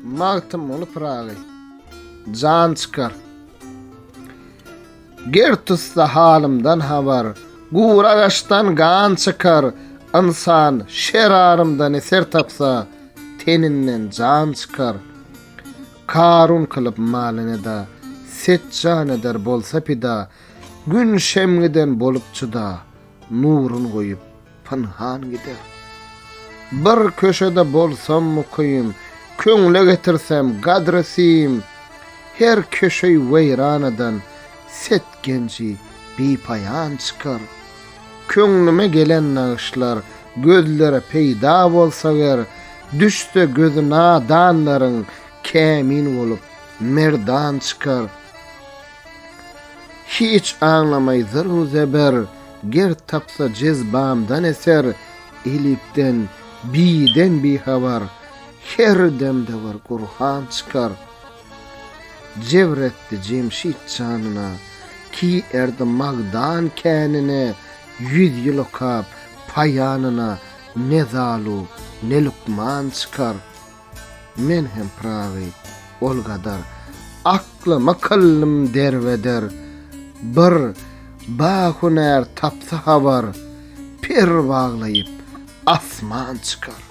Magtymguly Pyragy Jan çykar Ger tutsa halymdan habar Gur agaçdan gan çykar Ynsan şer arymdan eser tapsa Teninden jan çykar Karun kylyp malyň eda Set jan eder bolsa pida Gün şemgiden bolup çyda Nurun goýup pynhan gider. Bir köşede bolsam mukym, köňle getirsem gadry-sim, her köşeý weýranadan setgenji bipaýan çykar. Köňlüme gelen nagyşlar gözlere peýda bolsa ger, düşse gözi nadanlaryň kämin bolup merdan çykar. Hiç aňlamaý zyr-u zeber, Ger tapsa jezbamdan eser, Elipden, Biden bihabar, Her demde bir Gurhan çykar. Jebr etdi Jemşit janyna, Ki erdi Magdan känine, Ýüz ýyl okap, paýanyna Ne Zalu, ne Lukman çykar. Men hem Prawy, ol gadar. Aklyma kyllym derbeder. Bir ba hünär tapsa habar, Per baglaýyp, asman çykar.